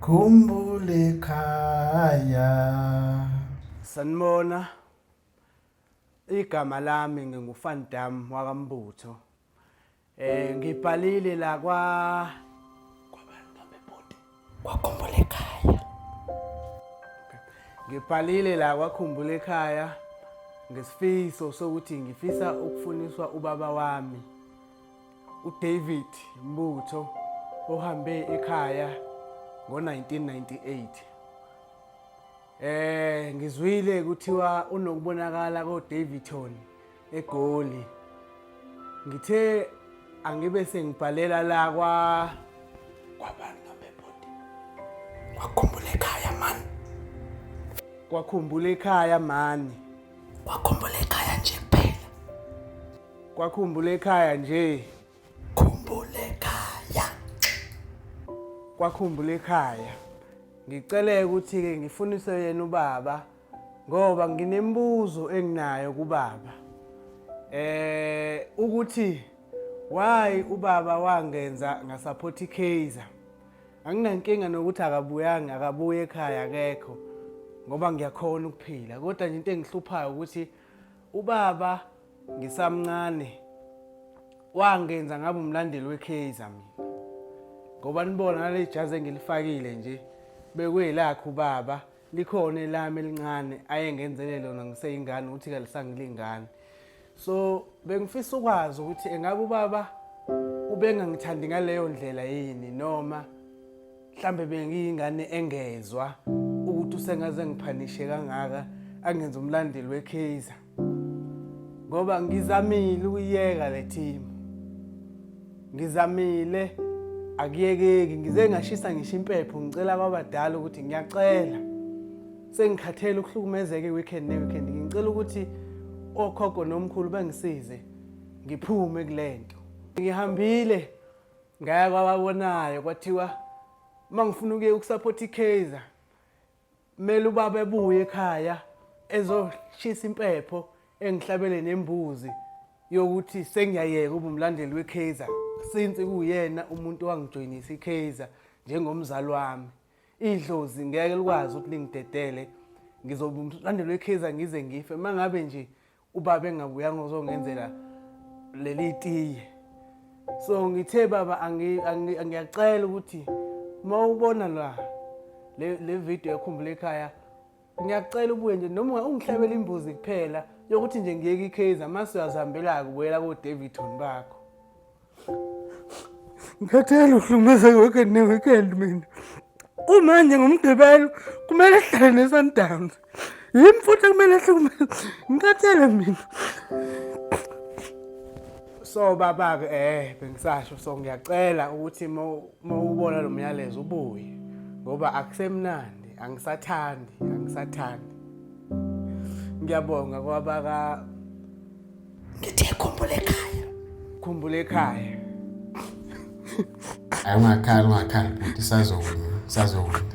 Khumbule khaya. Sanibona. Igama lami ngingufan Dam wakambutho. Eh ngibhalile la kwa kwabantu bamebhodi. Kwakhumbula ekhaya. Ngibhalile la kwakhumbula ekhaya ngesifiso sokuthi ngifisa ukufuniswa ubaba wami. uDavid Mbutho ohambe ekhaya ngo-1998 eh ngizwile kuthiwa unokubonakala koDavidton eGoli ngithe angibe sengibhalela la kwa kwabantu nobebodi wakhumbula ekhaya man kwakhumbula ekhaya mani wakhumbula ekhaya nje kuphela Kwakhumbula ekhaya nje. Khumbula ekhaya. Kwakhumbula ekhaya. Ngicele ukuthi-ke ngifunise yena ubaba ngoba nginembuzo enginayo kubaba. Eh ukuthi why ubaba wangenza ngasaphothi Kaizer. Anginankinga nokuthi akabuyanga akabuye ekhaya akekho ngoba ngiyakhona ukuphila kodwa nje into engihluphayo ukuthi Ubaba ngisamncane wangenza ngabe umlandeli weKaizer mina. Ngoba nibona nale jazi engilifakile nje bekuyelakhe ubaba likhona elami elincane ayengenzele lona ngiseyingane ukuthi kalisangilingane. So bengifisa ukwazi ukuthi engabe ubaba ubengangithandi ngaleyo ndlela yini noma mhlambe bengiyingane engezwa ukuthi usengaze ngiphanishe kangaka angenza umlandeli weKaizer ngoba ngizamile ukuyeka le team ngizamile akuyekeki ngize ngashisa ngisho impepho ngicela ababadala ukuthi ngiyacela sengikhathele ukuhlukumezeka iweekend neweekend ngicela ukuthi okhokho nomkhulu bangisize ngiphume kulento ngihambile ngeke wababonayo kwathiwa uma ngifuna ukuye ukusaphotha ikaizer kumele ubaba ebuye ekhaya ezoshisa impepho engihlabele nembuzi yokuthi sengiyayeka uba umlandeli wekaizer since kuyena umuntu owangijoyinisa ikaizer njengomzali wami idlozi ngeke likwazi ukuthi lingidedele ngizobe umlandeli wekaizer ngize ngife uma ngabe nje ubaba engabuyanga uzongenzela leli tiye so ngithe baba ngiyacela ukuthi uma ubona la le video yakhumbula ekhaya ngiyacela ubuye nje noma ungihlabela imbuzi kuphela yokuthi nje ngiyeke ikhazer mase uyazihambela-ke ubuyela kodavidton bakho ngikhathele uhlukumezeka weekend ne-weekend mina kumanje ngomgqibelo kumele ehlale ne-sundowns yimi futhi kumele ehlukumeze ngikhathele mina so baba-ke eh bengisasho so ngiyacela ukuthi uma ubona lo myalezo ubuye ngoba akusemnandi angisathandi angisathandi ngiyabonga kwabaka ngithe khumbula ekhaya khumbula ekhaya ayi ungakhali ungakhali bhuti sazokwini sazokwini